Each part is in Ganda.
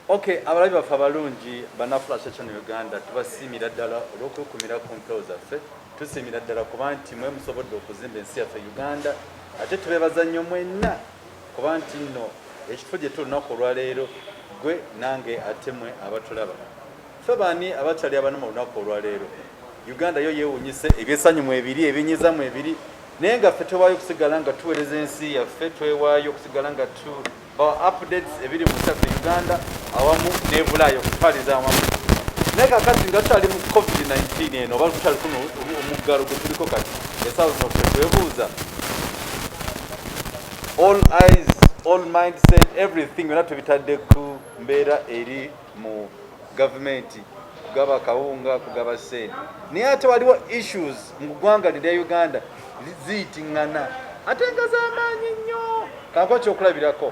Okay, abalabi baffe abalungi banafula section Uganda tubasiimira ddala olw'okukumira ku mpewo zaffe tusiimira ddala kuba nti mwe musobodde okuzimba ensi yaffe Uganda ate tubeebaza nnyo mwenna kuba nti nno ekifo gye tuli lunaku olwaleero gwe nange ate mwe abatulaba Ffe baani abakyali abana mu lunaku olwaleero? Uganda yo yeewunyise ebyesanyu mu ebiri ebinyiza mu ebiri naye nga ffe twewaayo okusigala nga tuweereza ensi yaffe twewaayo okusigala nga tu bawa updates ebiri mu kyaffe uganda awamu nebulaayo okutwaliza awamu naye kakati nga tukyali mu covid-19 eno oba tukyali kuno omuggalo gwe tuliko kati esaawa zino ffe twebuuza all eyes all mindset everything byona tubitadde ku mbeera eri mu gavumenti kugaba kawunga kugaba sente naye ate waliwo issues mu ggwanga lirya uganda ziyitingana ate nga zamaanyi nnyo kanko kyokulabirako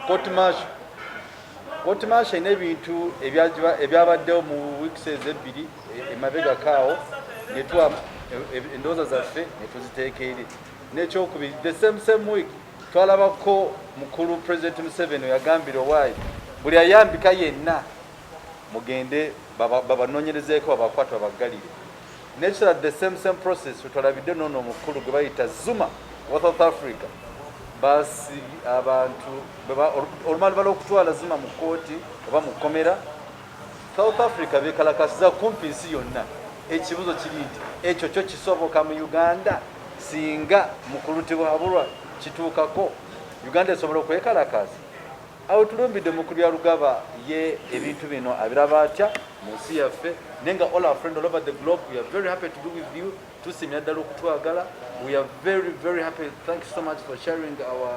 kotmasho kotmasho ina ebintu ebyabaddewo mu weeks ezo ebbiri e, emabegakaawo netwa e, e, endowooza zaffe netuziteeka eri nekyokubiri the same same week Twalabako mukulu president Museveni oyagambira owaayi buli ayambika yenna mugende babanonyerezeko babakwata babaggalire nekirala the same same process wetwalabidde noono omukulu gwe bayita Zuma wa South Africa basi abantu olumalibala okutwala Zuma mu kkooti oba mu kkomera South Africa bekalakasiza kumpi nsi yonna. Ekibuzo kiri nti ekyo kyo kisoboka mu Uganda singa mukulutibwabulwa kituukako Uganda esobola okwekalakaasa? Awo tulumbidde mukulu ya Lugaba ye ebintu bino abiraba atya mu nsi yaffe naye nga all our friend all over the globe we are very happy to be with you tusimira ddala okutwagala we are very very happy thank you so much for sharing our,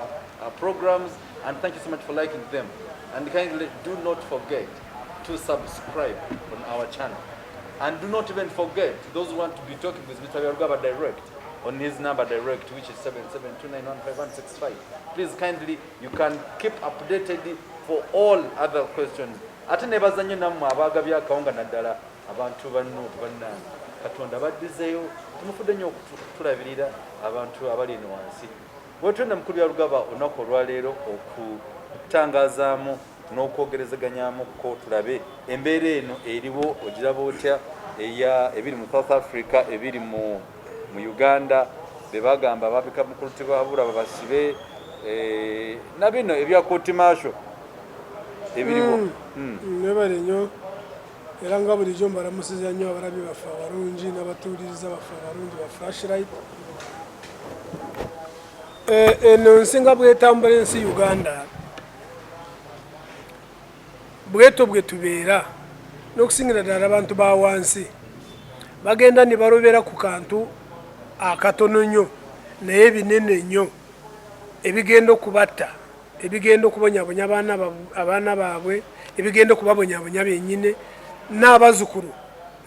our programs And thank you so much for liking them. And kindly do not forget to subscribe on our channel. And do not even forget those who want to be talking with Mr. Yarugaba direct on his number direct, which is 77291565. Please kindly, you can keep updated for all other questions. ate nebaza nnyo nammwe abaagabye akawunga naddala abantu banno bannange katonda baddizeyo tumufudde nnyo okutulabirira abantu abali eno wansi Wetwenda mukulu ya lugaba olunaku olwaleero okutangazaamu n'okwogerezeganyaamu ko tulabe embeera eno eriwo ogiraba otya eya ebiri mu south africa ebiri mu mu uganda bebagamba ababika mukulu tibabura babasibe eh, na bino ebya kotimasho ebiriwo mm. mm. mm. era nga bulijjo mbalamusiza nnyo abalabi baffe abalungi n'abatuuliriza baffe abalungi ba flashlight eh, eno nsi nga bwetambula ensi uganda bweto bwe tubeera n'okusingira ddala abantu ba wansi bagenda ne balobera ku kantu akatono nnyo naye binene nnyo ebigenda okubatta ebigenda okubonyabonya abaana baabwe ebigenda okubabonyabonya benyine n'abazukulu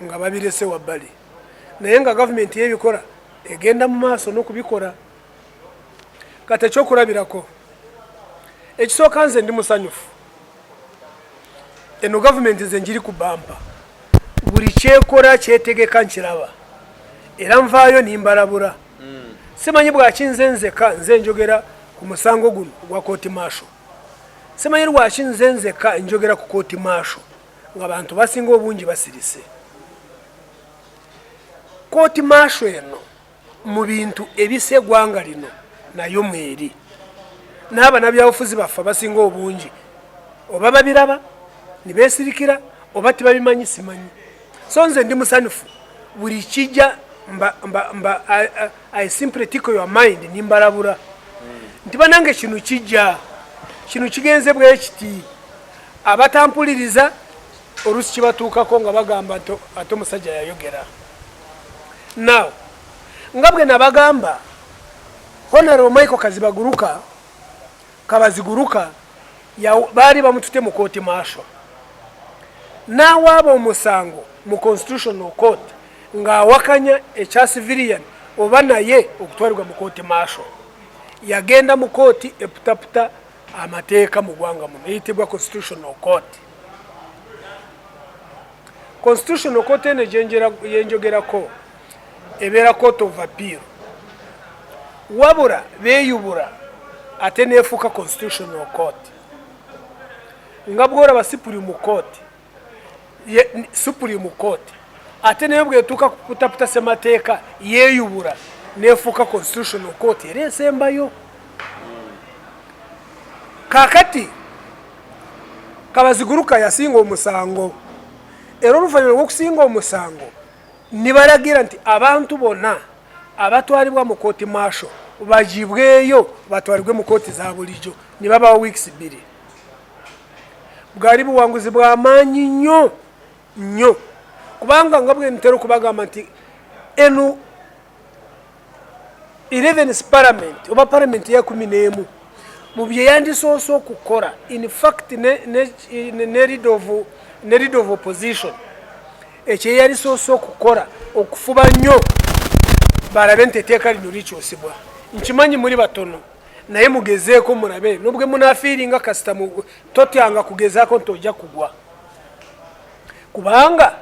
nga babirese wabbali naye nga gavumenti yebikola egenda mu maaso n'okubikola kati ekyokulabirako ekisooka nze ndi musanyufu eno gavumenti nze njiri ku bampa buli kyekola kyetegeka nkiraba era nvaayo nimbalabula mm. simanyi bwaki nze nzeka nze njogera ku musango guno gwa kooti maasho simanyi lwaki nze nzeka njogera ku kooti maasho nga bantu basinga obungi basirise kooti maasho eno mu bintu ebisa egwanga lino nayo mweri n'abanabyabufuzi baffe basinga obungi oba babiraba nibesirikira oba tibabimanyi simanyi so nze ndi musanyufu buli kijja mba, mba, mba, I, I, I simply tickle your mind nimbalabura mm. nti banange kino kijja kino kigenze bwekiti abatampuliriza olusi kibatuukako nga bagamba ate omusajja yayogera now nga bwe nabagamba honaro michael kazibaguruka Kabaziguruka ya baali bamutute mu kooti maasho n'awaaba omusango mu constitutional court ng'awakanya ekya civilian oba naye okutwalibwa mu kooti maasho yagenda mu kooti eputaputa amateeka mu gwanga muno eyitibwa constitutional court constitutional court eno gyenjogerako ebeera court of appeal wabula beyubula ate nefuuka constitutional court nga bwolaba supreme court supreme court ate naye bwetuuka kutaputa semateeka yeyubula nefuuka constitutional court era esembayo kakati kabaziguruka yasinga omusango era oluvanyuma lwokusinga omusango nibalagira nti abantu bonna abatwalibwa mu kooti maasho bagibweyo batwalibwe mu kooti za bulijjo ne babawa wiikisi bbiri bwali buwanguzi bwa maanyi nnyo nnyo kubanga nga bwe ntera okubagamba nti eno 11 parliament oba parliament ya 11 mu bye yandisoose okukola in fact ne, ne, ne, ne lead of ne lead of opposition ekyo yalisoose okukola okufuba nnyo balabe nti eteeka lino likyusibwa nkimanyi muli batono naye mugezeeko mulabe nobwe munafiiringa kasita totyanga kugezaako nti ojja kugwa kubanga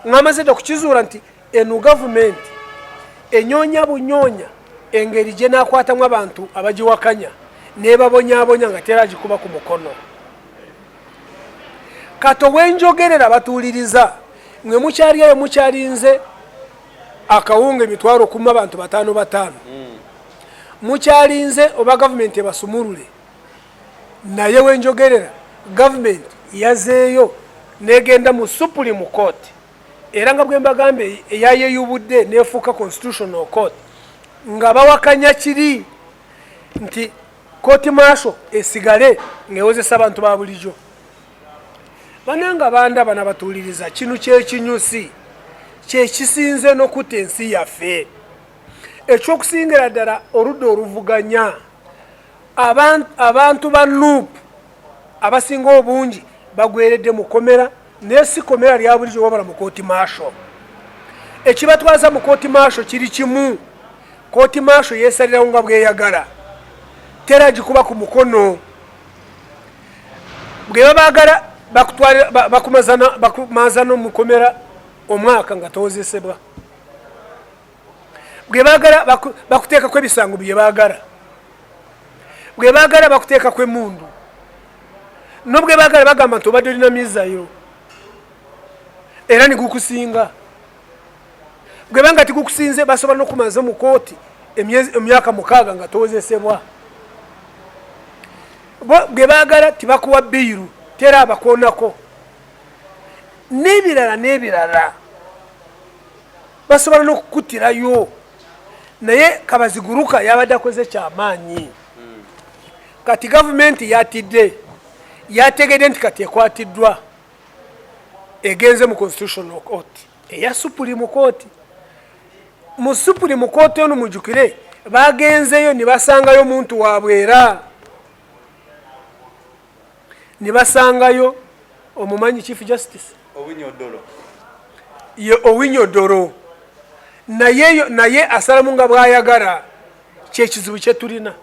ngamaze dda okukizuula nti Eno gavumenti enyonya bunyonya engeri gye nakwatamu abantu abagiwakanya nebabonyabonya nga tera agikuba ku mukono kato wenjogerera batuuliriza mwe mukyali eyo mukyalinze akawunga emitwalo kuma abantu bataano bataano hmm. mukyalinze oba gavumenti ebasumulule naye wenjogerera gavumenti yazeeyo negenda mu supulimu kooti era nga bwembagamba eyayeyubudde nefuuka constitutional court nga bawakanya kiri nti koti maaso esigale ngewozesa abantu ba bulijo bananga bandaba nabatuuliriza kino kyekinyusi kyekisinze nokutta ensi yaffe ekyokusingira ddala oludda oluvuganya abantu ba nup abasinga obungi bagweredde mukomera naye si komera lya bulijo wabula mu kooti maasho ekibatwaza mu kooti maasho kiri kimu kooti maasho yeesalirawo nga bweyagala tera gikuba ku mukono bwe babaagala bakumaazana omukomera omwaka nga towozesebwa bwebagala bakuteekako ebisango byebagala bwebagala bakuteekako emundu nobwebagala bagamba nti obadde olina mizayo era nigukusinga bwebanga tigukusinze basobola nokumaza mu kooti emyaka mukaaga nga towozesebwa bwebagala tibakuwa biiru tera abakwonako n'ebirala n'ebirala basobola n'okukuttirayo naye kabaziguruka yabadde akoze kyamaanyi hmm. kati gavumenti yatidde yategedde nti kati ekwatiddwa egenze mu constitutional court eya supreme court mu supreme court ono mujukire bagenzeyo ne basangayo omuntu wabwe era ne basangayo omumanyi chief justice owinyodoro ye owinyodoro naye naye asalamu nga bwayagala kyekizibu kyetulina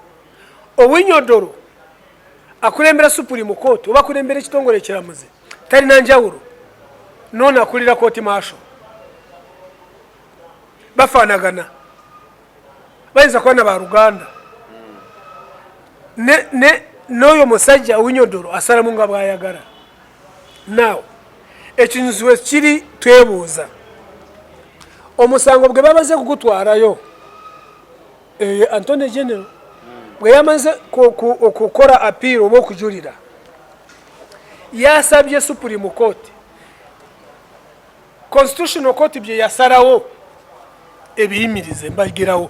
owinyodoro akulembera supreme court oba akulembera ekitongole ekiramuzi talina njawulo noona akulira kooti maasho bafaanagana bayinza kuba na baluganda n'oyo musajja owinyodoro asalamu nga bwayagala naw ekinyuziwe kiri twebuuza omusango bwe bamaze kugutwalayo eh, antony general bwe yamaze okukora apiira oba okujulira yasabye supreme court constitutional court bye yasalawo ebiyimirize mbagirawo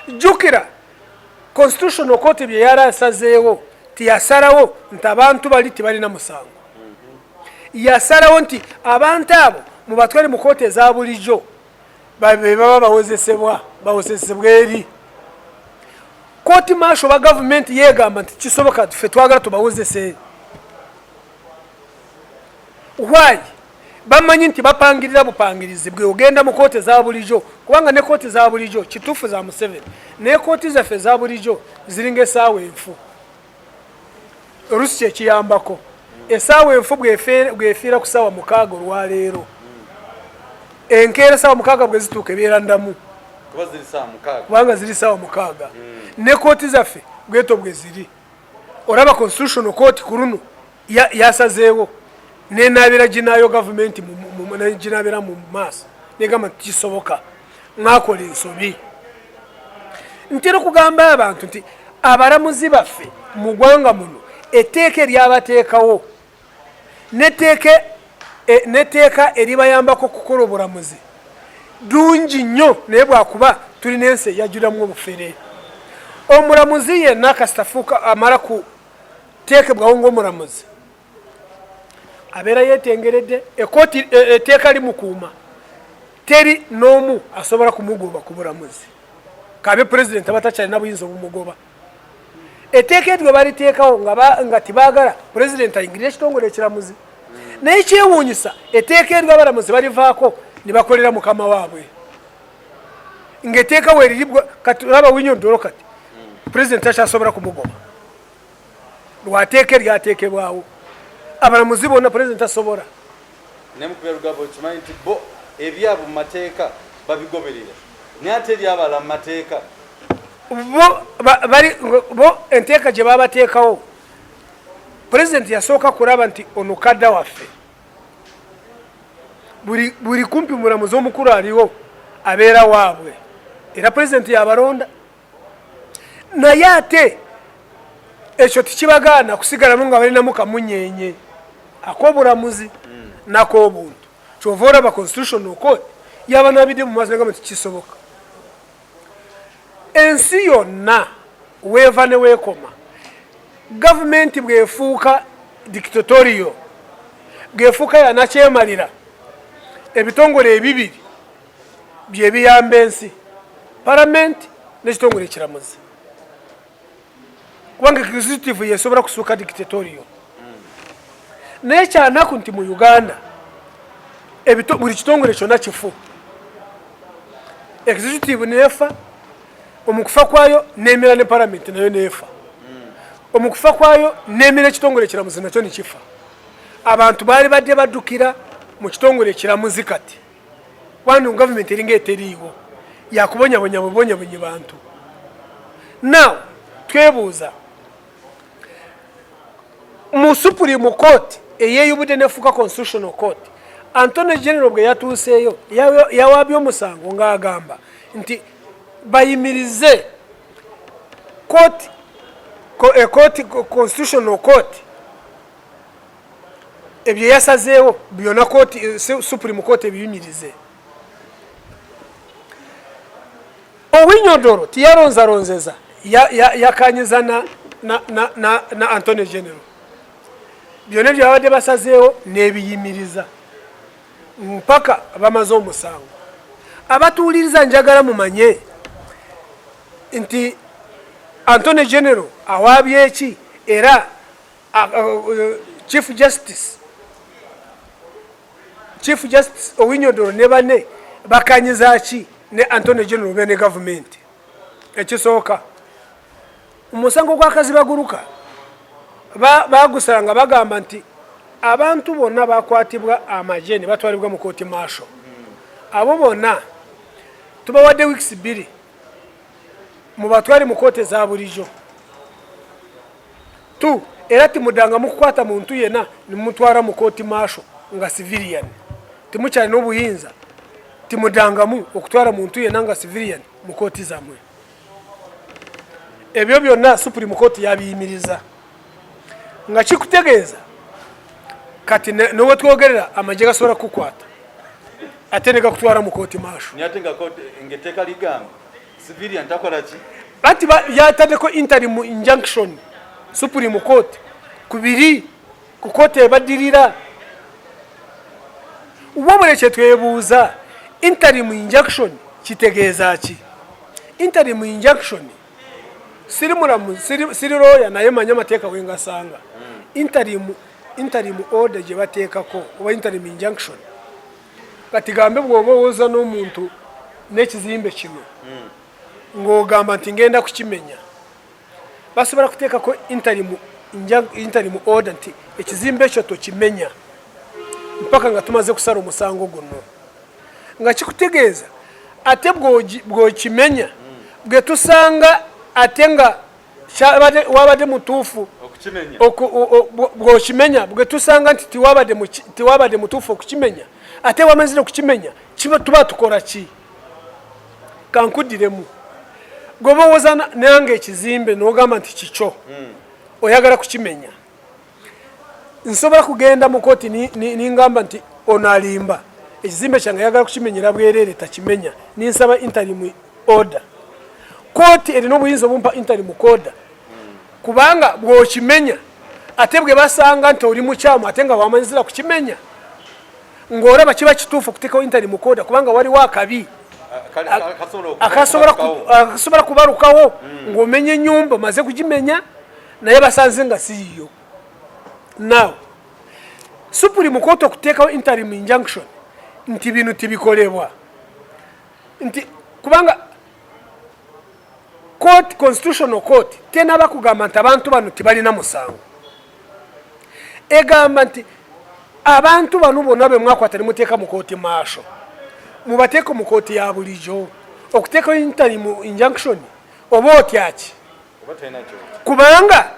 jjukira constitutional court bye yali asazeewo nti yasalawo nti abantu bali tebalina musango yasalawo nti abantu abo mubatwale mu kooti eza bulijjo be baba bawozesebwa bawozesebwa eri kooti maasho ba gavumenti yegamba nti kisoboka fe twagala tubawozese why bamanyi nti bapangirira bupangirizi bwe ogenda mu kooti eza bulijo kubanga ne kooti za bulijo kituufu za museveni naye kooti zaffe eza bulijo ziringa esaawa enfu olusi kyekiyambako esaawa enfu bwefiira ku saawa mukaaga olwaleero enkeera esaawa mukaaga bwezituuka ebeera ndamu kubanga ziri saawa mukaaga hmm. ne kooti zaffe bweto bwe ziri olaba constitutional court ku luno yasazeewo nenaabira ginaayo gavumenti ginaabira mu maaso negamba nti kisoboka mwakola ensobi ntera okugamba abantu nti abalamuzi baffe mu gwanga muno etteeka eryabateekawo n'etteeka e, n'etteeka eribayambako okukola obulamuzi ddungi nnyo naye bwakuba tulina ensi eyajjulamu obufere omulamuzi yenna kasita fuuka amala ku teekebwawo ngaomulamuzi abeera yetengeredde ekooti e, etteeka limukuuma teri n'omu asobola kumugoba ku bulamuzi kabe pulezidenti abatakyalina buyinza obumugoba etteeka eryo baliteekawo nga tibaagala pulezidenti ayingirira ekitongole ekiramuzi naye kyewuunyisa etteeka eryo abalamuzi balivaako ne bakolera mukama waabwe ngaeteeka weriri kati olaba winyo ddolo kati president takyasobola kumugoba lwateeka eryateekebwawo abalamuzi bonna president asobola naye mukubya lugabo okimanyi nti bo ebyabwe mu mateeka babigoberera naye ate ebyabala mu mateeka bo enteeka gye babateekawo pulezidenti yasooka kulaba nti ono kadda waffe buli kumpi mulamuzi omukulu aliwo abeera waabwe era pulezidenti yabalonda naye ate ekyo tekibagaana kusigalamu nga balinamu kamunyenye akobulamuzi mm. nakobuntu kyova olaba constitutional court yabanabidde mumaaso nagamba nti kisoboka ensi yonna weeva newekoma gavumenti bwefuuka dictatorio bwefuuka yanakyemalira ebitongole ebibiri bye biyamba ensi palamenti n'ekitongole ekiramuzi kubanga executive yesobola kusuuka dictatorio naye kyanaku nti mu uganda buli kitongole kyona kifu executive neefa omukufa kwayo nemira ne palamenti nayo neefa omukufa kwayo nemira ekitongole ekiramuzi nakyo nekifa abantu baali badde baddukira mu kitongole ekiramuzi kati wano government eringa eteriiwo yakubonyabonya bubonyabonyi bantu now twebuuza mu supreme court eyeyubudde nefuuka constitutional court antony general bwe yatuuseeyo yawaabye omusango ng'agamba nti bayimirize court, court, eh, constitutional court ebyo yasazeewo byona kooti eh, supreme kooti ebiyunyirize owinyodoro tiyalonzalonzeza yakanyiza ya, ya na, na, na, na antony general byona ebyo babadde basazeewo nebiyimiriza mpaka bamaze omusango abatuwuliriza njagala mumanye nti antony general awaabye eki era Ah, oh, oh, oh, chief justice chief justice owinyodoro ne bane bakanyiza ki ne antony general be ne gavumenti ekisooka omusango gwakazi baguruka bagusanga bagamba nti abantu bonna bakwatibwa amagye ne batwalibwa mu kooti maasho abo bonna tubawadde wiikisi bbiri mu batwali mu kooti eza bulijjo tu era timudangamu kukwata muntu yena nimutwara mu kooti maasho nga civilian timukyalina obuyinza timudangamu okutwara muntu yena nga civilian mu kooti zamwe ebyo byonna supreme court yabiyimiriza nga kikutegeeza kati nowe twogerera amagye gasobola kukwata ate negakutwala mu kooti maasho civilian takola ki bati yatadeko interim injunction supreme court kubiri ku kooti ebadirira wabula kyetwebuuza interim injunction kitegeeza ki interim injunction siri mulamu siri looya naye manya amateeka wengasanga hmm. interim interim order gye bateekako oba interim injunction kati gambe bwoba owoza n'omuntu n'ekizimbe kino hmm. ng'ogamba nti ngenda kukimenya basobola kuteekako intalimu intalimu order nti ekizimbe ekyo tokimenya mpaka nga tumaze kusala omusango guno nga kikutegeeza ate bwokimenya bwetusanga ate nga wabadde mutuufu bwokimenya bwetusanga nti tewabadde mutuufu okukimenya ate wamazire okukimenya tuba tukola ki kankuddiremu gwoba owoza nange ekizimbe nogamba nti kikyo hmm. oyagala kukimenya nsobola kugenda mu kooti ningamba nti ono alimba ekizimbe kyange ayagala kukimenyera bwereere takimenya ninsaba interim order kooti erina obuyinza obumpa interim order kubanga bwokimenya ate bwe basanga nti oli mukyamu ate nga wamanyizira kukimenya ng'olaba kiba kituufu okuteekawo interim order kubanga waliwo akabi akasobola kubalukawo hmm. ng'omenya ennyumba omaze kugimenya naye basanze nga siyiyo now supreme court okuteekawo interim injunction nti bino tibikolebwa nti kubanga court constitutional court tenaba kugamba nti abantu bano tibalina musango egamba nti abantu bano bonna be mwakwata ne muteeka mu kooti maasho mubateeko mu kooti ya bulijo okuteekawo interim injunction oba otyaki kubanga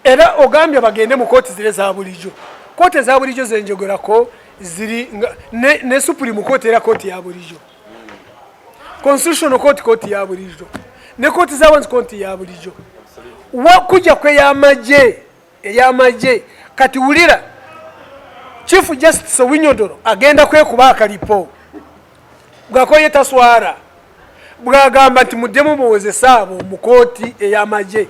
era ogambye bagende mu kooti zire za bulijjo kooti eza bulijjo zenjogerako ziri ne, ne supreme kooti era kooti ya bulijjo constitutional kooti kooti ya bulijjo ne kooti zawansi kooti ya bulijjo kujja kweyamagye ey'amagye kati wulira chief justice owinyodoro agenda kwekuba akalipo bwakoye taswara bwagamba nti muddemu muwozese abo mu kooti ey'amagye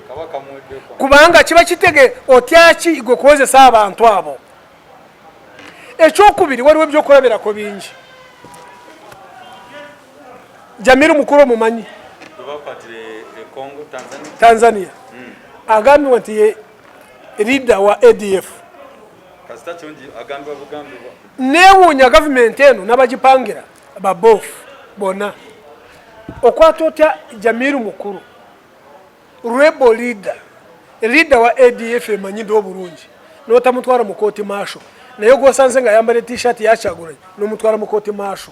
kubanga kiba kitege otyaki gwe kuwozesa abantu abo ekyokubiri waliwo ebyokulabirako bingi Jamiru mukulu omumanyi Tanzania hmm. agambibwa nti ye leader wa ADF newuunya gavumenti eno nabagipangira babofu bona okwata otya Jamiru mukulu Rebel leader, leader wa ADF emanyiddwa obulungi n'otamutwala mu kooti maasho naye gwosanze nga ayambadde t-shirt ya Kyagulanyi n'omutwala mu kooti maasho.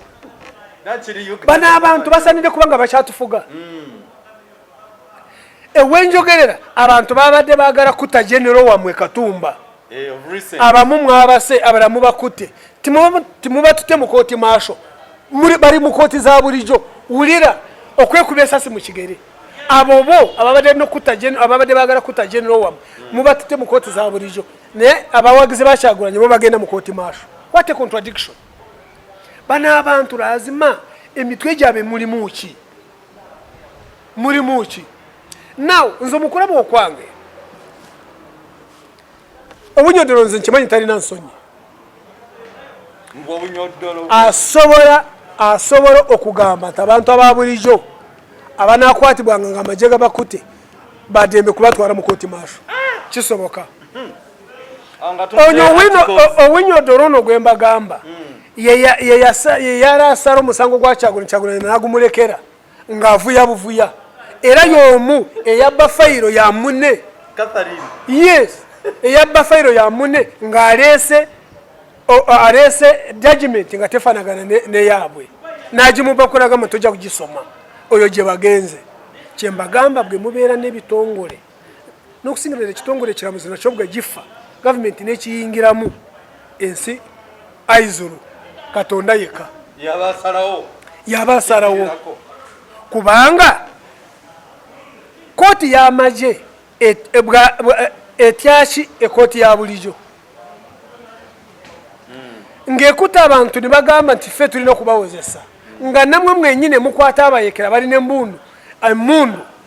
Bano abantu basanidde kubanga bakyatufuga. Mm. Ewenjogerera abantu babadde bagala kuta general wamwe Katumba. Eh, abamu mwabase abala mubakute timubatute mukoti maasho bali mukoti za bulijo wulira okwekuba esasi mu kigere abo bo ababadde nokutta ababadde bagala kutta general wam mubatute mu kooti za bulijjo naye abawagizi bakyagulanye bo bagenda mu kooti maasho what a contradiction bano abantu lazima emitwe gyabwe mulimu ki mulimu ki now nze omukulaba okwange obunyodolo nze nkimanyi talina nsonyi asobola asobola okugamba nti abantu ababulijo abanakwatibwanga nga amaje gabakute badembe kubatwala mukoti maso kisoboka hmm. onyo owinyodolo ono gwembagamba hmm. yeyarasala omusango gwakyagula kyagula nagumulekera ng'avuya buvuya era y'omu eyabba fayiro ya mune yes eyabba fayiro ya mune ng'aleese aleese judgment nga tefanagana neyaabwe n'agimuba kulaga mu tojja kugisoma oyo gye bagenze kyembagamba bwe mubeera n'ebitongole n'okusingira ddala ekitongole ekiramuzi nakyo bwe gifa gavumenti n'ekiyingiramu ensi aizulu katonda yekka yaba asalawo kubanga kooti y'amagye etyaki ekooti ya bulijo hmm. ng'ekuta abantu ne bagamba nti ffe tulina okubawozesa nga namwe mwenyine mukwata abayekera bali ne mbundu emundu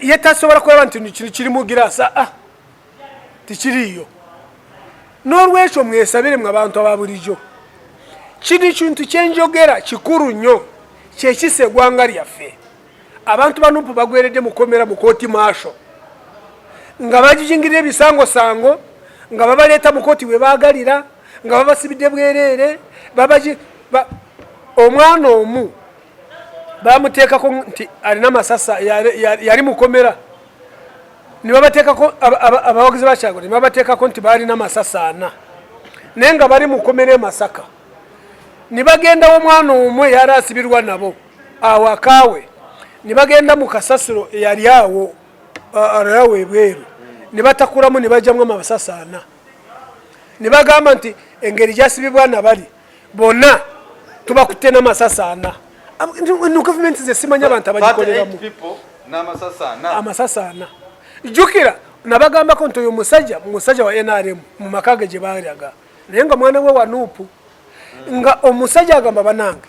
ye tasobola kulaba nti kino kiri mu giraasi aa ah, ah. tikiriiyo n'olwekyo mwesabire mwe abantu aba bulijjo kino kintu kyenjogera kikulu nnyo kyekisa egwanga lyaffe abantu banupu bagweredde mukomera mukooti maasho nga bagijingirira ebisangosango nga babaleeta mukooti webagalira nga babasibidde bwereere omwana omu bamuteekako nti alina masasa yali mukomera nebabateekako abawagizi bakyago nebabateekako nti baalina masasa ana naye nga bali mukomera emasaka nebagendawo omwana omu eyali asibirwa nabo awakaawe nebagenda mu kasasiro eyali awo alayawo ebweru nebatakulamu nebajamu amasasa ana nebagamba nti engeri gyasibibwa nabali bona tubakutte n'amasasi ana no gavumenti ze simanya abantu abagikoleramu amasasi ana jjukira nabagambako nti oyo musajja musajja wa nrm mu maka ge gye baalaga naye nga mwana we wanuupu nga omusajja agamba banange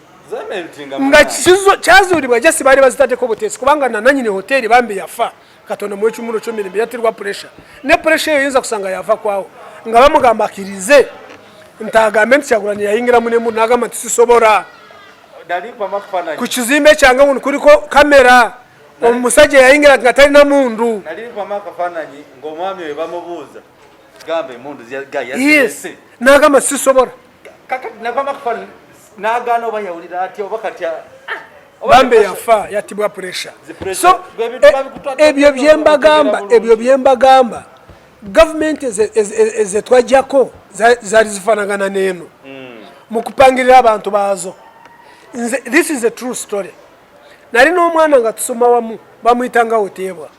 nga kyazuulibwa jasi baali bazitaddeko buteesi kubanga nananyini hoteeri bambi yafa katonda mu ekimuro kyomirembe yatirwa puresha ne puresha eyo yinza kusanga yava kwawo nga bamugamba akirize nti agambe nti kyagulanyi yayingira munemu nagamba nti sisobora ku kizimbe kyange wuno kuliko kamera omusajja yayingira nga talina mundu gamba emundu yes nagamba sisobola nagana oba yawulira atya oba katya ah, bambe yafa yatibwa pressure so e- ebyo byembagamba ebyo byembagamba gavumenti ezetwajjako zali zifanagana neeno hmm. mukupangirira abantu baazo nze this is a true story nali n'omwana nga tusoma wamu bamuyitanga oteebwa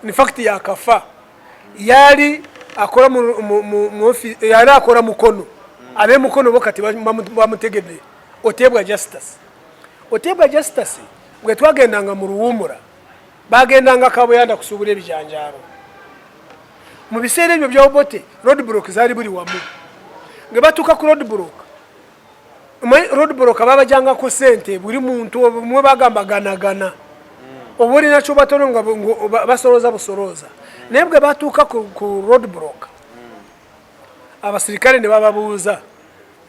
infact yakafa yali akola yali akola mukono abe mukono bo kati bamutegedde oteebwa justice oteebwa justice bwe twagendanga mu luwumula bagendanga kabuyanda kusuubula ebijanjaalo mu biseera ebyo byaobote rodbrook zaali buli wamu nge batuuka ku rodbrook omanyi road broker babajangako sente buli muntu mwe bagamba ganagana hmm. oba olina kyobatono nga basolooza busolooza hmm. naye bwe batuuka ku road broker hmm. abasirikale ne bababuuza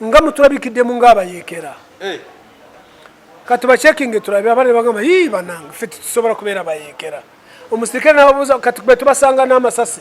nga mutulabikiddemu ngaabayeekera eh. kati bacekinge tulabe abana ne bagamba yii banange fe tetusobola kubeera bayeekera omusirikale nababuuza kati bwe tubasanga n'amasasi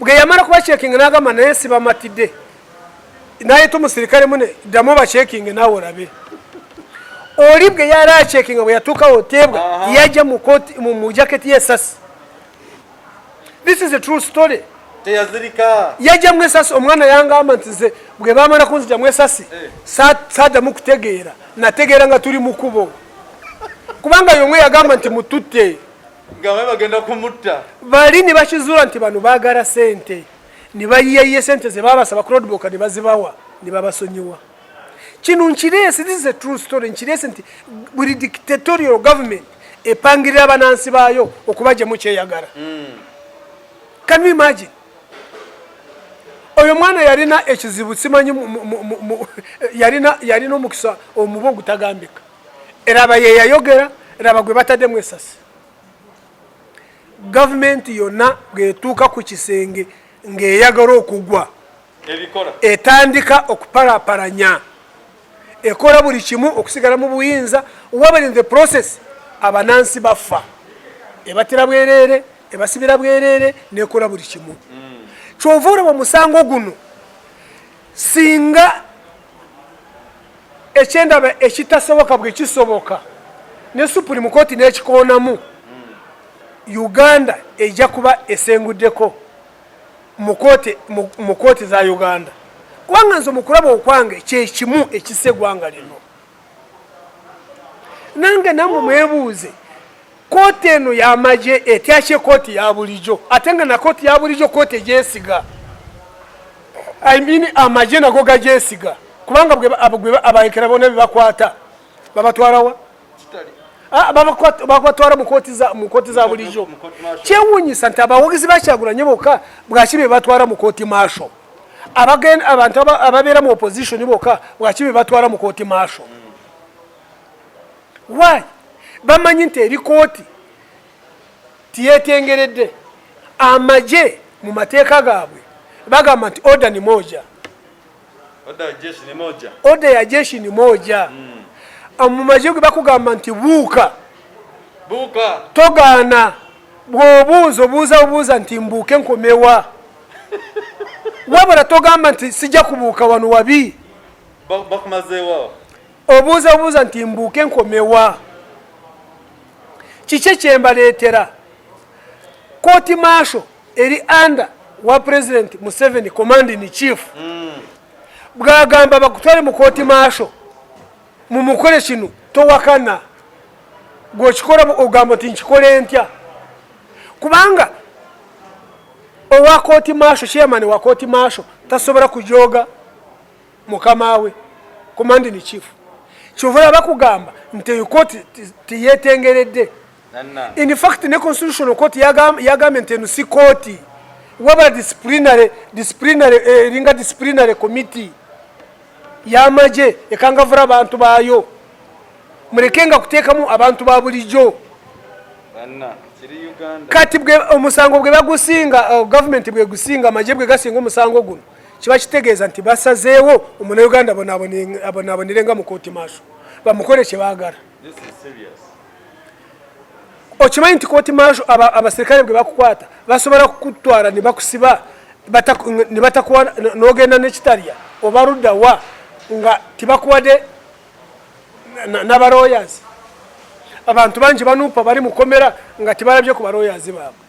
bwe yamala kuba checking n'agamba naye sibamatidde naye to musirikale mune ddamu bachekinge naawe olabe oli bwe yali achekinga bwe yatuukawo teebwa yajja mu jaketi y'esasi this is a true story teyazirika yajja mu esasi omwana yangamba nti nze bwe bamala kunzija mu esasi eh. saadamu kutegeera nategeera nga tuli mu kubo kubanga yomwe yagamba nti mututte nga bagenda kumutta bali ne bakizuula nti bano baagala sente ne bayiyayiye sente ze baabasaba ku rodboka ne bazibawa ne babasonyiwa kino nkireese this is a true story nkireese nti buli dictatorial government epangirira abanansi baayo okubajemu kyeyagala hmm. can you imagine oyo mwana yalina ekizibu simanyi yalina omukisa omuba ogutagambika eraba yeyayogera eraba gwe bataddemu esasi gavumenti yonna bwetuuka ku kisenge ng'eyagala okugwa etandika okupalaparanya ekola buli kimu okusigala mu buyinza wabali in the process abanansi baffa ebatira bwereere ebasibira bwereere nekola buli kimu mm. kyova olaba omusango guno singa ekyendaba ekitasoboka bwekisoboka ne supreme court nekikoonamu uganda ejja kuba esenguddeko mu kooti za uganda kubanga nze mukulaba okwange kyekimu ekisa egwanga lino nange namwe mwebuuze Kooti eno yamagye etyakye kooti ya bulijo ate nga na kooti ya bulijo kooti egyesiga I mean amagye nago gagyesiga kubanga abayekera bona bebakwata babatwarawa ah, babatwara mu kooti za bulijo kyewunyisa nti abawagizi bakyagulanye boka bwaki bebatwara mu kooti maasho abantu ababeera mu opposition boka bwaki bebatwara mu kooti maasho why bamanyi nti eri kooti tiyetengeredde amagye mu mateeka gaabwe bagamba nti oda ni moja oda ya jeshi ni moja hmm. ah, mu magye gwe bakugamba nti buuka buuka togaana bwobuuza obuuza obuuza nti mbuuke nkomewa wabula togamba nti sijja kubuuka wano wabi bakumazeewo obuuza buuza nti mbuuke nkomewa kiki kyembaleetera kooti maasho eri anda wa pulezidenti museveni commanding chief mm. bwagamba bakutwale mu kooti maasho mumukole kino towakana gwokikola ogamba nti nkikole ntya kubanga owa kooti maasho chairman wa kooti maasho tasobola kujooga mukama we command in chief kyova yaba kugamba nti eyo kooti teyetengeredde in fact ne constitutional court yagambye nti eno si kooti wabula disciplinary disciplinary eh, eringa eh, disciplinary committee yamagye ekangavura abantu baayo muleke nga kuteekamu abantu ba bulijjo kati omusango bwe bagusinga uh, gavumenti bwegusinga amagye bwe gasinga omusango guno kiba kitegeeza nti basazeewo omunauganda abonaabonere nga mukooti maaso bamukole kyebaagala okimanyi nti kooti maaso abaserikale bwe bakukwata basobola kukutwala ne bakusiba ne batakuwa n'ogenda nekitalya oba ludda wa nga tibakuwadde n'abaroyazi abantu bangi banuupa bali mu komera nga tibalabye ku baroyazi baabwe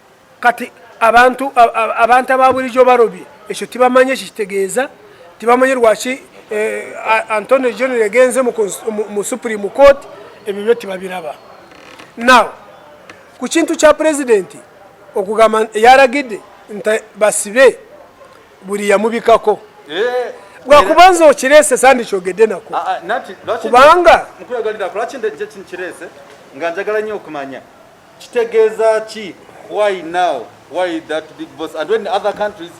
kati abantu abantu ababulijo barobi ekyo tibamanye kitegeeza tibamanye lwaki eh, antonio john yagenze mu supreme court ebyo byo tibabiraba now ku kintu kya pulezidenti okugamba yaragidde nti basibe buli yamubikako eh, bwakubanza okirese sandikyogedde nako ah, ah, kubanga nga njagala nnyo okumanya Kitegeeza ki? Why now? Why that big boss? And when other countries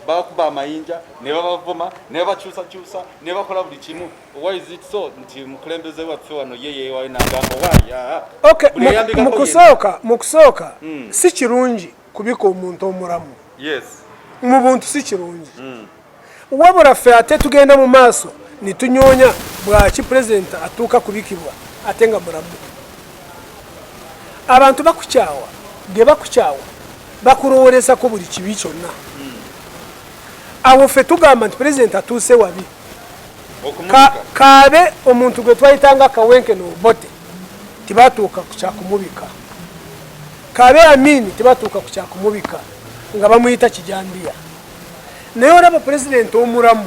bakuba amayinja ne babavuma ne babakyusakyusa ne bakola buli kimu why is it so nti mukulembeze waffe wano ye yewayo nagamba waya mukusooka mukusooka hmm. si kirungi kubika omuntu omulamu yes mu buntu si kirungi mm. wabula ffe ate tugenda mu maaso netunyoonya bwaki pulezidenti atuuka kubikibwa ate nga mulamu abantu bakukyawa gebakukyawa bakulowoolezako buli kibi kyonna awo ffe tugamba nti pulezidenti atuuse wabi kaabe omuntu gwe twayitanga kawenke nobote tibatuuka kukyakumubika kaabe amini tibatuuka kukyakumubika nga bamuyita kijambiya naye olaba pulezidenti omulamu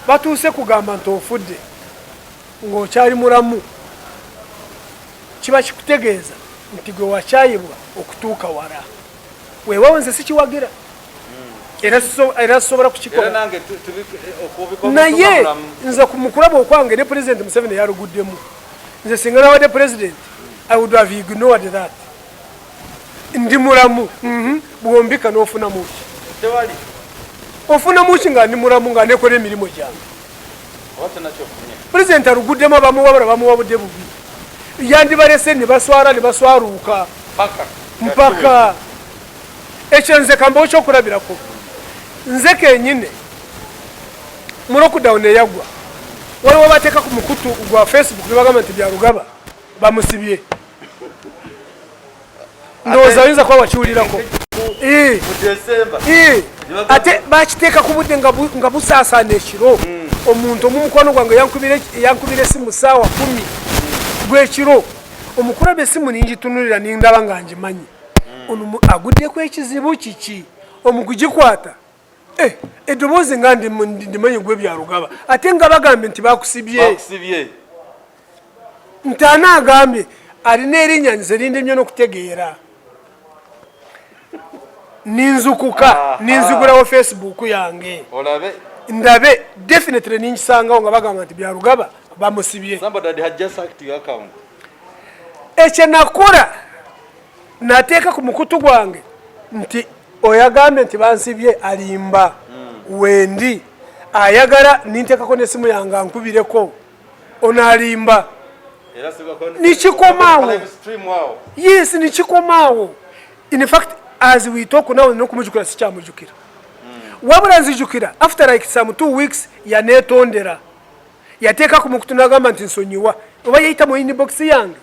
batuuse kugamba nti ofudde ng'okyali mulamu kiba kikutegeeza nti gwe wakyayibwa okutuuka wala wewawo nze sikiwagira era sisobola kukikolaye nze kumukulaba okwange ne pulezidenti museveni yaluguddemu nze singa nawadde pulezidenti i would have ignored that ndi mulamu mhm. bwombika nofunamu ki ofunamu ki nga ndi mulamu nga nekola emirimu gyange pulezidenti aluguddemu abamuwabula bamuwabudde bubi yandibalese nebaswala nebaswaluuka mpaka ekyo nze kambawo kyokulabirako nze kenyine mu lockdown eyagwa waliwo bateeka ku mukutu gwa facebook nebagamba nti byalugaba bamusibye ndowooza oyinza kuba wakiwulirako ate bakiteeka ku budde nga busaasaana ekiro hmm. omuntu omumukwano gwange yankubira esimu saawa kumi gwekiro omukulaba esimu ningitunulira nindaba nga ngimanyi hmm. ono aguddeko ekizibu kiki omukugikwata Eh, eddoboozi nga ndimanyi gwe byalugaba ate nga bagambye nti bakusibye ntaana agambye alina erinya nze lindemye n'okutegeera ninzukuka ah, ninzigulawo ah. facebook yange ndabe definitely ninkisangawo nga bagamba nti byalugaba bamusibye ekyenakula nateeka ku mukutu gwange nti oyagambye nti bansibye alimba hmm. wendi ayagala ninteekako nesimu yange ankubireko onalimba nikikomaawo yes nikikomaawo in fact as we talk now nokumujukira sikyamujukira hmm. wabula nzijukira after like some two weeks yanetondera yateeka ku mukutu nagamba nti nsonyiwa oba yayita mu inbox yange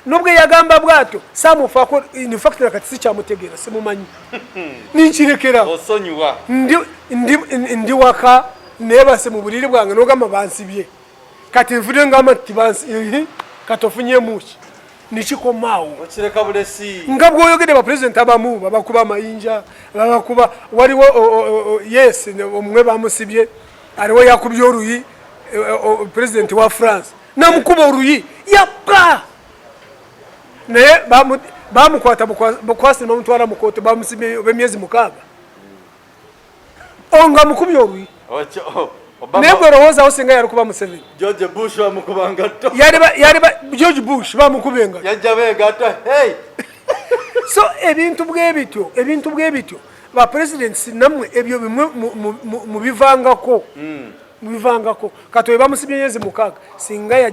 nubwo yagamba bwato samufako in fact na kati sikyamutegeera simumanyi ninkirekera osonyiwa ndi ndi ndi waka nebase mu buliri bwange nogamba bansibye kati nvude ngamba nti bansi katofunye muki nikikomaawo okireka bulesi nga bwoyogede ba president abamu babakuba amayinja babakuba waliwo yes omwe bamusibye aliwo yakubye oluyi eh, eh, president wa france namukuba oluyi yappa naye bamukwata bukwasi nebamutwala mukooti bamusimye obemyezi mukaaga onga mukubye oluyi naye gwe olowoozawo singa yali kuba museveni george bush bamukuba ngatto george bush bamukuba engatto yajja begatto hey so ebintu bwebityo ebintu bwebityo ba presidents namwe ebyo bimwe mubivangako mm. mubivangako kati oyo bamusibye myezi mukaaga singa ya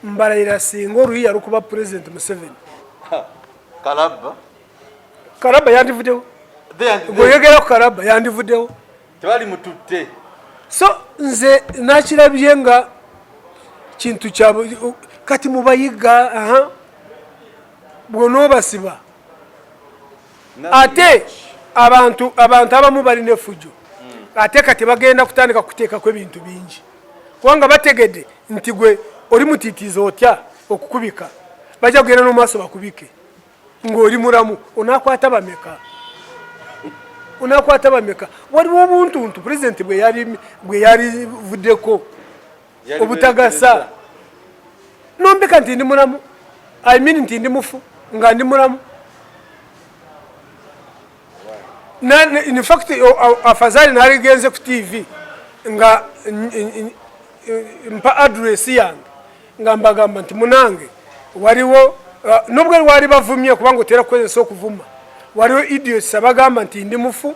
mbalayira singa oluyiya lukuba pulezidenti museveni kalabba kalabba yandivudewo gweyogera ku kalabba yandivudewo tebali mututte so nze nakirabye nga kintu kya kati mubayiga aha bwonoobasiba ate abantu abantu abamu balina efujjo hmm. ate kati bagenda kutandika kuteekako ebintu bingi kubanga bategedde nti gwe oli mutitiiza otya okukubika bajja kugenda nomumaaso bakubike ng'oli mulamu onakwata bameka onakwata bameka waliwo obuntuntu pulezidenti bweyalivuddeko obutagasa nombeka nti ndi mulamu i mean nti ndi mufu nga ndi mulamu infact afazali naligenze ku tv nga mpa address yange nga mbagamba nti munange waliwo uh, nubwo lwali bavumye kubanga otera kukozesa okuvuma waliwo idiots abagamba nti ndi mufu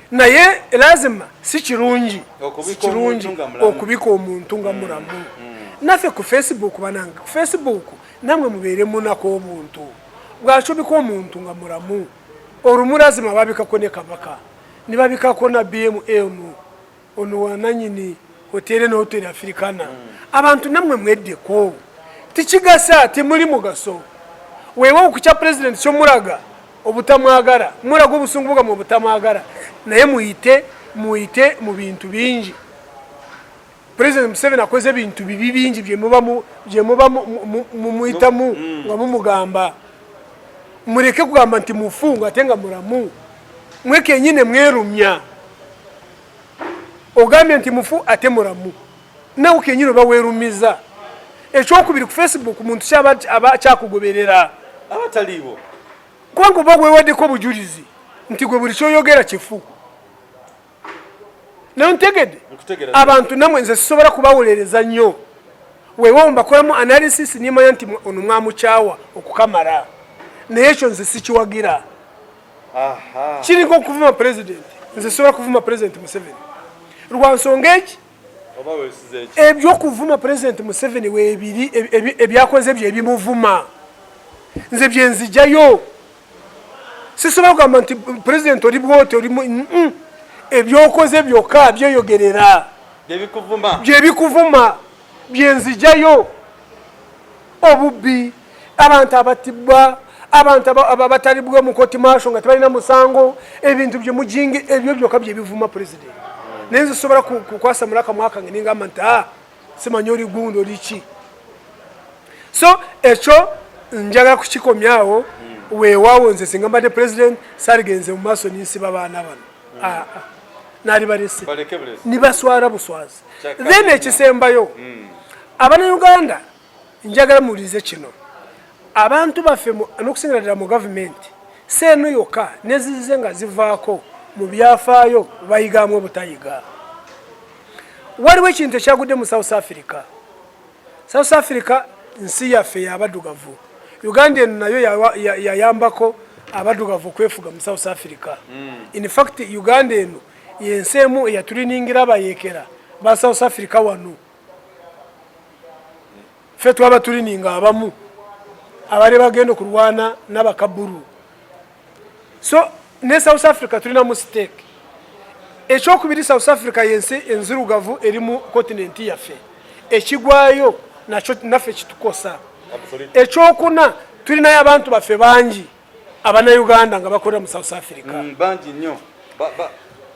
naye lazima si kirungi kirungi okubika omuntu nga mulamu mm, mm. naffe ku facebook banange ku facebook namwe mubeere munako obuntu bwacobika omuntu nga mulamu olumu lazima babikako ne kabaka nibabikako na bmm ono wananyini hotere ne hotere afirikana mm. abantu namwe mweddeko tikigasa temuli mugaso wewe okukya pulezidenti kyomulaga obutamwagala mulaga obusungu bwammwe obutamwagala naye muyite muyite mu bintu bingi president museveni akoze ebintu bibi bingi byemuba mumuyitamu mm. nga mumugamba mureke kugamba nti mufungu ate nga muramu mwe kenyine mwerumya ogambye nti mufu ate muramu nawe kenyini oba werumiza ekyokubiri ku facebook muntu kyaba aba kyakugoberera abataliiwo kubanga oba wewadeko obujulizi nti gwe buli kyoyogera kifu naye ntegede abantu namwe nze sisobola kubawolereza nnyo wewawo mbakolamu analysis nimanya nti ono mwamukyawa okukamala naye ekyo nze sikiwagira kiringa okuvuma president nze sisobola kuvuma president museveni lwansonga eki ebyokuvuma pulezidenti museveni webiri ebyakoze byo ebimuvuma nze byenzijayo sisobola kugamba nti pulezidenti oli bwoti oli ebyokoze byokka byeyogerera byebikuvuma byenzijayo obubbi abantu abatibwa abantu abatalibwa mukoti maso nga tebalina musango ebintu byemujinga ebyo byoka byebivuma president naye nze sobola kukwasamula akamwaka nge ningamba nti a ah, simanya oli gundi oli ki so ekyo njagala kukikomyawo hmm. wewawo nze singa mbadde president saligenze mu maaso ninsiba baana bano hmm. ah, ah. nali balese nibaswala buswazi then ekisembayo hmm. abana uganda njagala muwulirize kino abantu baffe n'okusingira ddala mu gavumenti si eno yokka nezizize nga zivaako mu byafaayo bayigaamu obutayiga waliwo ekintu ekyagudde mu south africa south africa nsi yaffe yabadugavu uganda eno nayo yayambako abadugavu okwefuga mu south africa hmm. infact uganda eno yensi emu eyatuliningira abayekera ba south africa wano fe twaba tulininga abamu abali bagenda okulwana nabakaburu so ne south africa tulina mu stake ekyokubiri south africa yensi enzirugavu eri mu continenti yaffe ekigwayo nakyo naffe kitukosa ekyokuna tulinayo abantu baffe bangi abanauganda nga bakolera mu south africa mm, bangi nnyo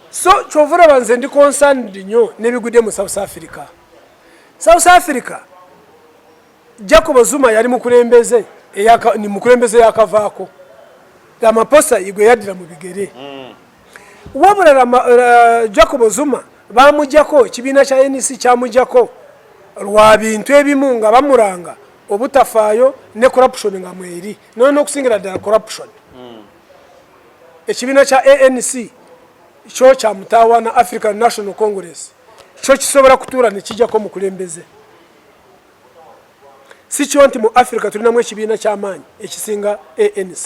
so kyova olaba nze ndi concerned nnyo nebigudde mu south africa south africa jacob zuma yali mukulembeze ni mukulembeze yakavaako ramaposa igwe yaddira mu bigere mm. wabula eh, jacob zuma bamujako ekibiina kya nec kyamujako lwa bintu ebimu nga bamuranga obutafaayo ne corruption nga mweri noyo nokusingira ddala corruption hmm. ekibiina kya anc kyo kyamutawaana african national congress kyo kisobola kutuula nekijako mukulembeze sikyo nti mu africa tulinamu ekibiina kyamaanyi ekisinga anc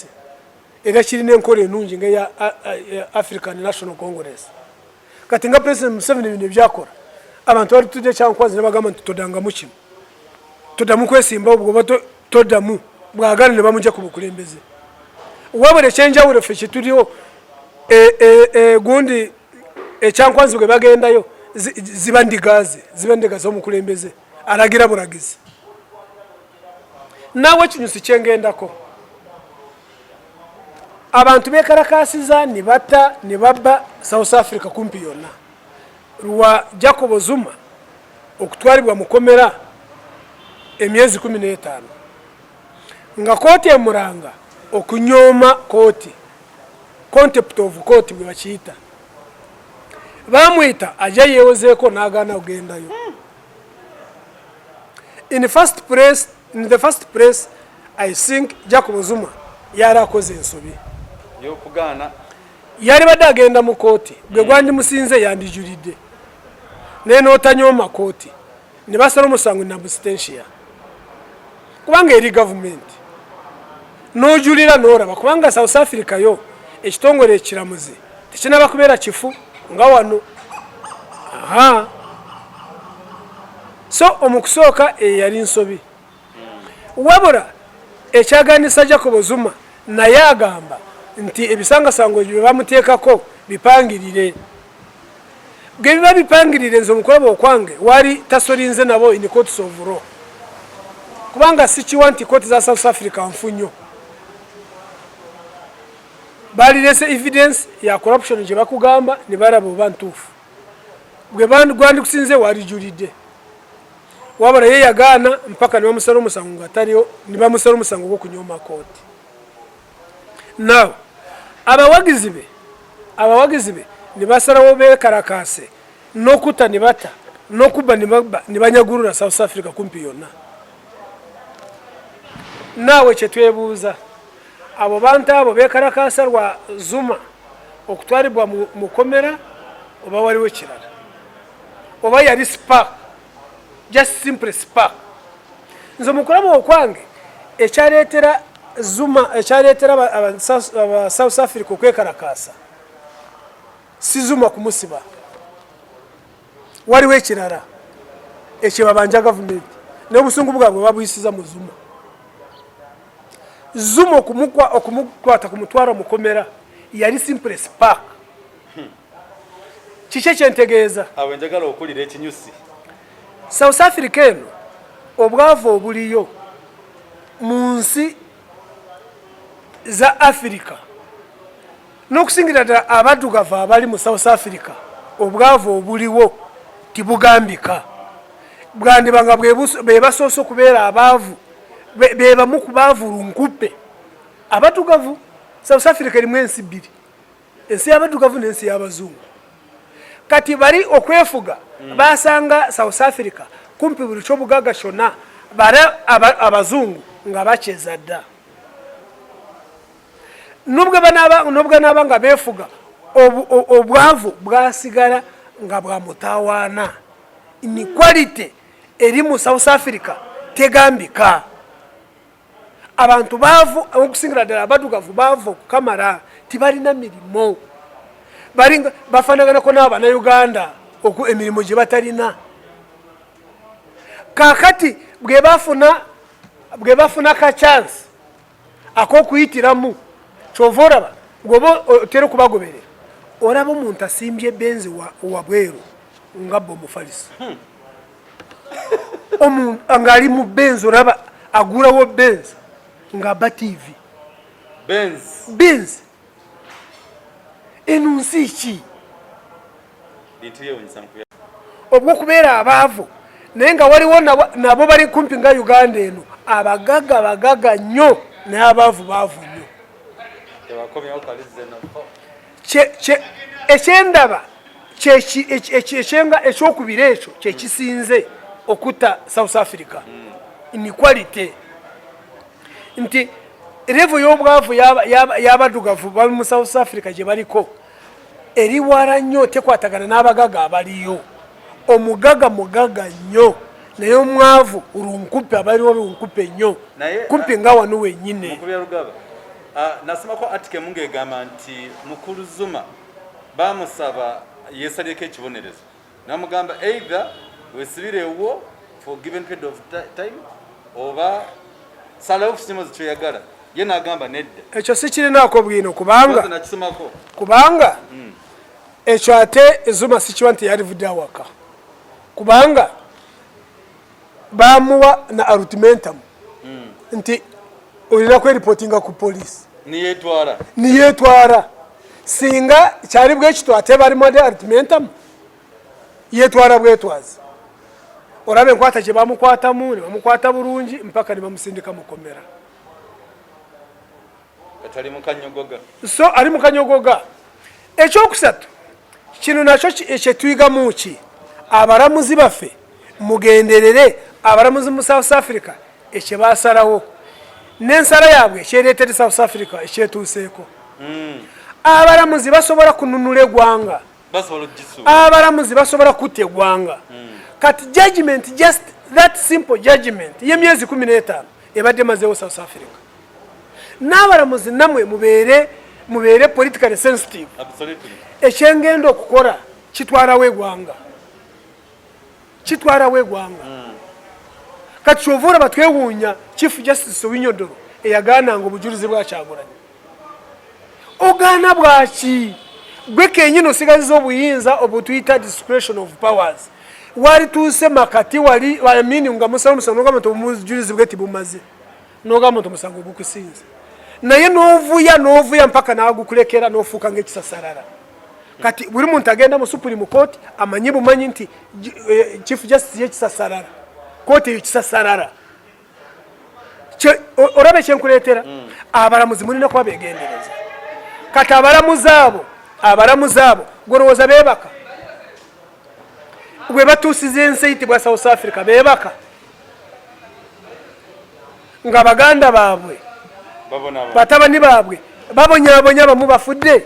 era kirina enkola enungi nga eya african national congress kati nga president museveni bino ebyakola abantu bali tujja kyankwazi nebagamba nti todangamu kino todamu kwesimbawo bwoba todamu bwagala ne bamugya ku bukulembeze wabula ekyenjawulo ffe kyetuliwo e, e, e, gundi ekyankwanzi bwe bagendayo ziba ndigaze ziba ndiga z'omukulembeze alagira bulagizi nawe ekinyusi kyengendako abantu bekalakasiza ne batta ne babba south africa kumpi yonna lwa jacobo zuma okutwalibwa mukomera emyezi kumi n'etaano nga kooti emuranga okunyooma kooti contept of kooti bwe bakiyita bamwita aja yewozeeko n'agaana ogendayo in first place in the first place I think Jacob Zuma yari akoze ensobi yokugaana yari badde agenda mu kooti gwe mm. gwandimusinze yandijulidde naye n'otanyooma kooti ne basala omusango nabusitensia kubanga eri gavumenti n'ojulira n'olaba kubanga south africa yo ekitongole ekiramuzi tekinaba kubeera kifu nga wano aha so omukusooka eyali nsobi Wabula ekyaganisa Jacob Zuma naye agamba nti ebisangasango ebyo byebamuteekako bipangirire bwebiba bipangirire nze omukulaba okwange wali tasolinze nabo in courts of law kubanga sikiwa nti kooti za south africa nfu nnyo balirese evidence ya corruption gyebakugamba nebalaba oba ntuufu gwe gwandikusinze walijulidde waba naye yagaana mpaka nibamusala omusango nga taliwo nibamusala omusango gwokunyoma kooti naw abawagizi be abawagizi be nibasalawo bekalakaase nokuta nibata nokubba nibanyagulula south africa kumpi yonna naawe kyetwebuuza Abo bantu abo bekalakaasa lwa Zuma okutwalibwa mu komera oba waliwo ekirala oba yali spark just simply spark nze mukulaba okwange ekyaleetera zuma ekyaleetera aba south africa okwekalakaasa si zuma kumusiba waliwo ekirala ekyebabanja gavumenti naye obusungu bwabwe babuyisiza mu zuma zuma okumukwata ku mutwalo mukomera yali simples park kiki ekyentegeeza awenjagala okulira ekinyusi south africa eno obwavu obuliyo mu nsi za afirika n'okusingira ddala abaddugavu abali mu south africa obwavu obuliwo tibugambika bwandiba nga bebasoose okubeera abaavu bebamu ku baavu lunkuppe abaddugavu south africa erimu ensi bbiri ensi y'abaddugavu n'ensi y'abazungu kati bali okwefuga mm. basanga south africa kumpi buli kyobugaga kyonna bara abazungu nga bakyeza dda nobwebanaaba nga befuga obwavu bwasigala nga bwamutawaana inequality eri mu south africa tegambika abantu baavu okusingira ddala abadugavu baavu okukamala tibalina mirimu bafanaganako naabo banauganda oku emirimu gye batalina kakati bwebafuna bwebafuna ka chance akokuyitiramu kyova olaba gwoba otera okubagoberera olaba omuntu asimbye benzi wabweru nga bwe omufalisi hmm. ngaali mu benzi olaba agulawo benzi ngaaba tivi benzi eno nsi ki obwokubeera abaavu naye nga waliwo nabo bali kumpi nga uganda eno abagaga bagaga nnyo naye abaavu baavu nnyo ekyendaba ekyokubiri ekyo kyekisinze okutta south africa hmm. inequality nti revo y'obwavu y'abadugavu bali mu south africa gye baliko eriwara nnyo tekwatagana n'abagaga abaliyo omugaga mugaga nnyo naye omwavu lunkupe abaliwo lunkupe nnyo kumpi nga wano wenyini nasimako atike mu ng'egamba nti mukulu zuma bamusaba yesalireko ekibonerezo namugamba either wesibire ewuwo for given period of time oba salawo kusima kyoyagala ye nagamba nedda ekyo sikirinaako bwino kubanga nakisomako kubanga hmm. ekyo ate ezuma sikiwa nti yalivudde awaka kubanga bamuwa na arutmentum hmm. nti olina kweripotinga ku polisi niyetwara singa kyali bwekityo ate balimu ade arutmentum yetwara bwetwazi olaba enkwata gye bamukwatamu ne bamukwata bulungi mpaka ne bamusindika mukomera so ali mukanyogoga ekyokusatu kino nakyo kyetuyigamu ki abalamuzi baffe mugenderere abalamuzi mu south africa ekyebasalawo nensala yaabwe ekyeretere south africa ekyetuuseeko hmm. abalamuzi basobola kununula egwanga abalamuzi basobola kutta egwanga hmm. kati judgment just that simple judgment yemyezi kumi n'etaano ebadde mazeewo south africa n'abalamuzi namwe mubeere mubeere politically sensitive ekyengenda okukola kitwalawo egwanga kitwalawo egwanga hmm. kati kyova olaba twewuunya chief justice owinyodoro eyagaananga obujulizi bwakyagulanyi ogaana bwaki gwe kenyini osigaziza obuyinza obutuyita discretion of powers walituuse makati wali amini nga musala omusango nogamba nti omujulizi bwe tibumaze nogamba nti omusango gukusinza naye novuya novuya mpaka nagukulekera nofuuka ngaekisasarara kati buli muntu agenda mu supreme court amanyi bumanyi nti eh, chief justice yekisasarara kooti eyo kisasarara olaba ekyenkuleetera mm. abalamuzi mulina kuba begendereza kati abalamuzi abo abalamuzi abo gwolowooza bebaka webatuusiza ensi eyitibwa south africa bebaka nga baganda baabwe batabani baabwe babonyabonya abamu bafudde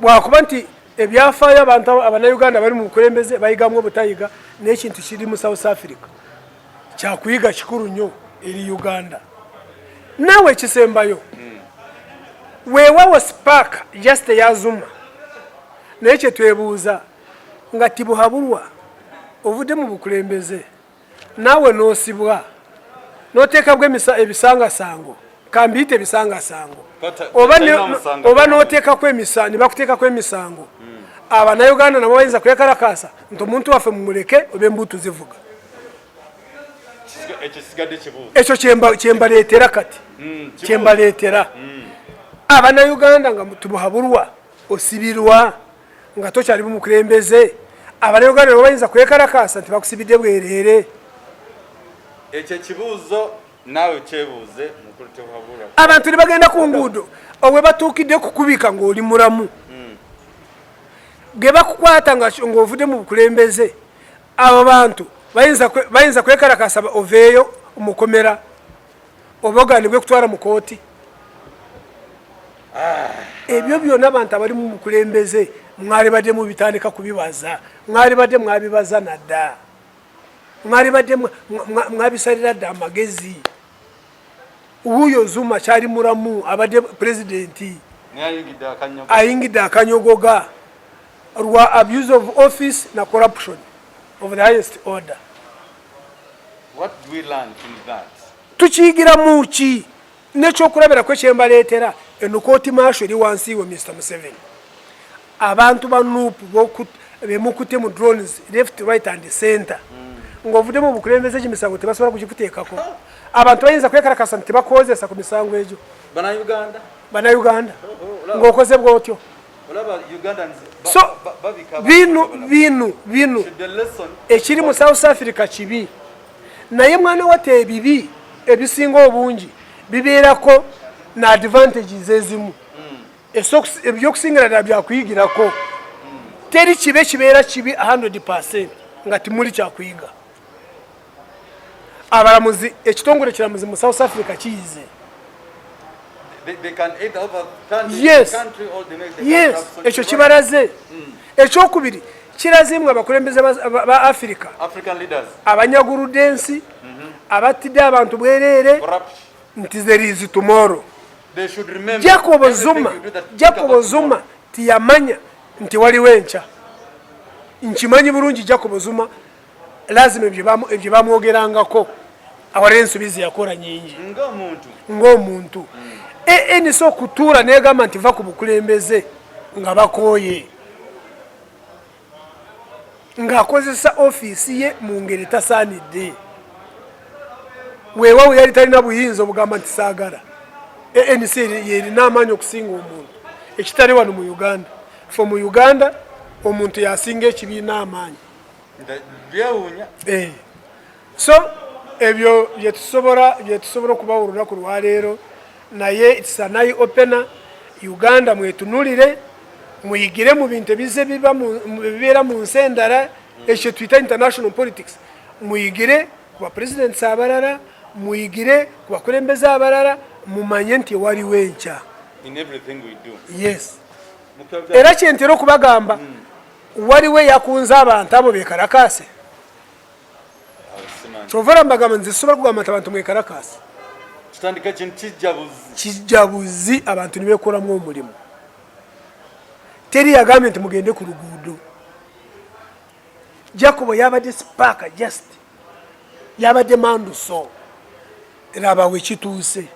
bwakuba nti ebyafaayo abantu abanauganda bali mu bukulembeze bayigamu obutayiga n'ekintu kiri mu south africa kyakuyiga kikulu nnyo eri uganda naawe ekisembayo hmm. weewawo spark just eyazuma naye kyetwebuuza nga tibuhabulwa ovudde mu bukulembeze naawe n'osibwa n'oteekabwa ebisangasango kambiyite ebisangasango oba n'oteekako emisango ne bakuteekako emisango hmm. abanauganda nabo bayinza kwekalakaasa nti omuntu waffe mumuleke oba embuutu zivuga ekyo kyembaleetera kati hmm, kyembaleetera hmm. abanauganda nga tubuhabulwa osibirwa nga tokyali bumukulembeze abana uganda lwebayinza kwekalakaasa nti bakusibidde bwereere ekyo ekibuuzo naawe kyebuuze abantu ne bagenda ku nguudo obwe batuukidde kukubika ng'oli mulamu hmm. ge bakukwata ng'ovudde mu bukulembeze abo bantu bayinza kwekalakaasa oveeyo mukomera oba oganibwe kutwala mu kooti ah. ebyo byona abantu abali mu mukulembeze mwalibadde mubitandika kubibaza mwalibadde mwabibaza nadda mwalibadde mwabisalira dda amagezi wuuyo zuma kyali mulamu abadde pulezidenti ayingidde akanyogoga lwa abuse of office na corruption of the highest order tukiyigiramu ki nekyokulabirako ekyembaleetera eno kooti maasho eri wansi we mr museveni abantu ba nup bemukutte mu drones left right and center mm. ngaovuddemu obukulembeze egyo misango tebasobola kugikuteekako abantu bayinza kwekarakasa nti tebakozesa ku misango egyo banauganda oh, oh, oh, ngaokoze bwotyo so binu binu binu ekiri mu south africa kibi naye mwana wata ebibi ebisinga obungi bibeerako na advantages ezimu hmm. ebyokusingira dala byakuyigirako hmm. teri kibe kibeera kibi 100 percent nga timuli kyakuyiga abalamuzi ekitongole kiramuzi mu south africa kiyize ekyo kibalaze hmm. ekyokubiri kirazimu abakulembeze ba afirika abanyaguludde ensi mm-hmm. abattidde abantu bwereere nti zerizi tumoro jacobo zuma jacobo zuma tiyamanya nti waliwo enkya nkimanyi bulungi jacobo zuma lazima ebyo bamwogerangako awalira ensobi zeyakola nyingi ng'omuntu anc hmm. okutuula negamba nti va ku bukulembeze nga bakooye ng'akozesa ofiisi ye mu ngeri etasaanidde weewawo yali talina buyinza obugamba nti saagala anc yerina amaanyi okusinga omuntu ekitali wano mu uganda fe mu uganda omuntu yasinga ekibiina amaanyi byewuunya eh. so ebyo byetusobola byetusobola okubawa olunaku lwaleero naye sanayi opena uganda mwetunulire muyigire mu bintu ebize bibeera mu nsi endala ekyo tuyita international politics muyigire ku bapresidents abalala muyigire ku bakulembeze abalala mumanye nti ewaliwo enkya yes era kyentera okubagamba mm. waliwo eyakunze abantu abo bekalakaase kyovera mbagamba nze sobola kugamba nti abantu mwekalakaase kijjabuzi abantu nibekolamu omulimu teri yagambye nti mugende ku luguudo jacobo yabadde sipaaka just yabadde manduso laba wekituuse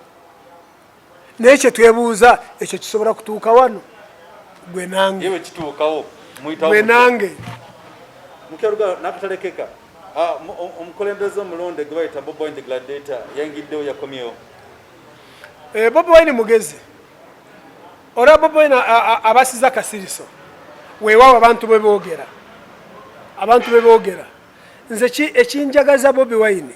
naye kyetwebuuza ekyo kisobola kutuuka wano gwe nange gwe nange nakatalekeka ah, omukulembeze omulonde gwe bayita bobi wine the gladiator yayingiddewo yakomyewo eh, bobi wine mugezi olaba bobi wine abasiza akasiriso weewaawo abantu bwe boogera abantu bwe boogera nze ekinjagaza bobi wine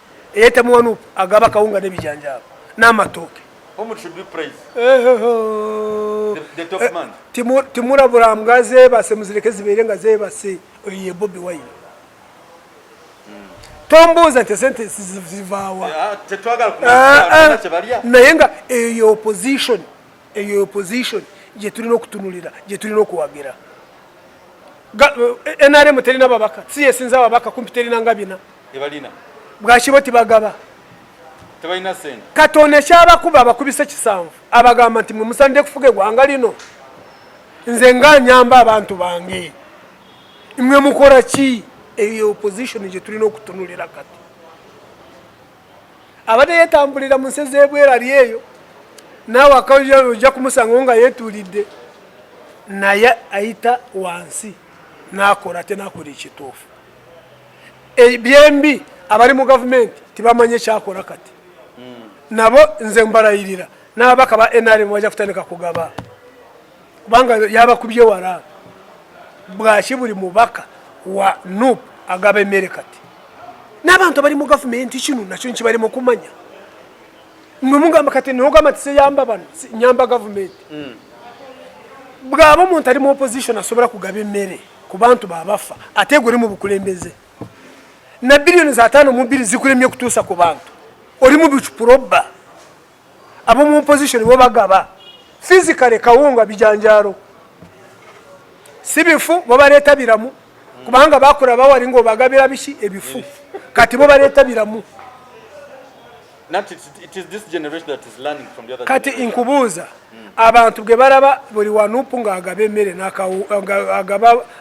Eyeta muwanu agaba kawunga ne bijanjaba n'amatooke. Whom should we praise? Eh, eh, oh. The, the top eh, man. Timur Timur Abraham gaze base muzileke zibere nga zebe base oye Bobby Wine. Hmm. Tombuza te sente zivawa. Ah, te twagala kuna ah, ah. balia. Naye nga eyo opposition, eyo opposition je tulino kutunulira, je tulino kuwagira. NRM terina babaka, CS nza babaka kumpiterina ngabina. ebalina bwakibo tibagaba tebalina sente katonda ekyabakuba abakubisa ekisanvu abagamba nti mwe musanidde kufuga egwanga lino nze nga nyamba abantu bange mwe mukola ki eyo opposition gye tulina okutunulira kati abadde yetambulira mu nsi ez'ebwera ly eyo naawe akawulira ojja kumusangawo nga yetuulidde naye ayita wansi n'akola ate n'akola ekituufu e, byembi abali mu gavumenti tibamanye kyakola kati hmm. nabo nze mbalayirira n'ababaka ba nrm bajja kutandika kugaba kubanga yabakubye wala bwaki buli mubaka wa nup agaba emmere kati n'abantu abali mu gavumenti kino nakyo nkibali mu kumanya mwemugamba kati nogamba ti siyamba bano nyamba gavumenti hmm. bwaba omuntu ali mu opposition asobola kugaba emmere ku bantu babafa ate gwe oli mu bukulembeze na biliyoni za taano mu bbiri zikulemye kutuusa ku bantu oli mu bicupurobba ab'omu opposition bo bagaba physically kawunga bijanjaalo si bifu bo baleeta biramu kubanga bakula bawali ngaobagabira biki ebifu kati bo baleeta biramu kati inkubuuza hmm. abantu bwe balaba buli wanupu nga agaba emmere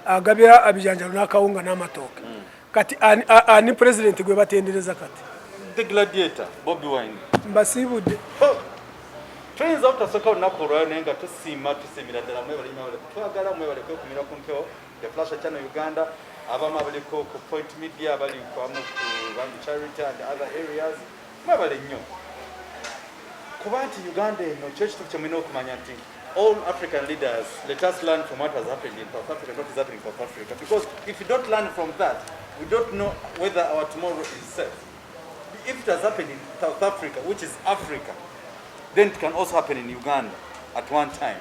agabira abijanjalo n'akawunga n'amatooke hmm. kati ani pulezidenti gwe batendereza kati mbasiibudde oh! tuyinza obutasoka olunaku olwayo naye nga tusiima tusiimira ddala mwebale mwebale twagala mwebale kwekumira ku mpewo The Flasher Channel Uganda abamu abaliko ku Point Media bali kwamu ku Bambi Charity and other areas mwebale nnyo kuba nti Uganda eno kyo kitu kyemulina okumanya nti all African leaders let us learn from what has happened in South Africa not is happening in South Africa because if you don't learn from that we don't know whether our tomorrow is safe if it has happened in South Africa which is Africa then it can also happen in Uganda at one time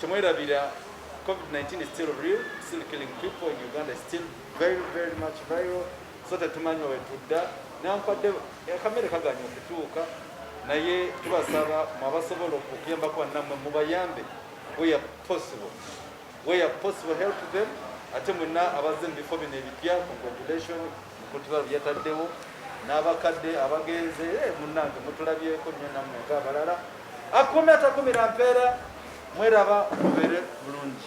Temwerabira COVID-19 is still real, still killing people in Uganda, still very very much viral. So tetumanyi wetudda nankwadde akamere kaganye okutuuka naye tubasaba mwabasobola okuyambako nammwe mubayambe where possible where possible help them ate mwenna abazze mu bifo bino ebipya congratulation mukutibalo byataddewo n'abakadde abagenze eh, munnange mutulabyeko nnyo nammwe nga abalala akume atakumira mpeera mweraba mubeere bulungi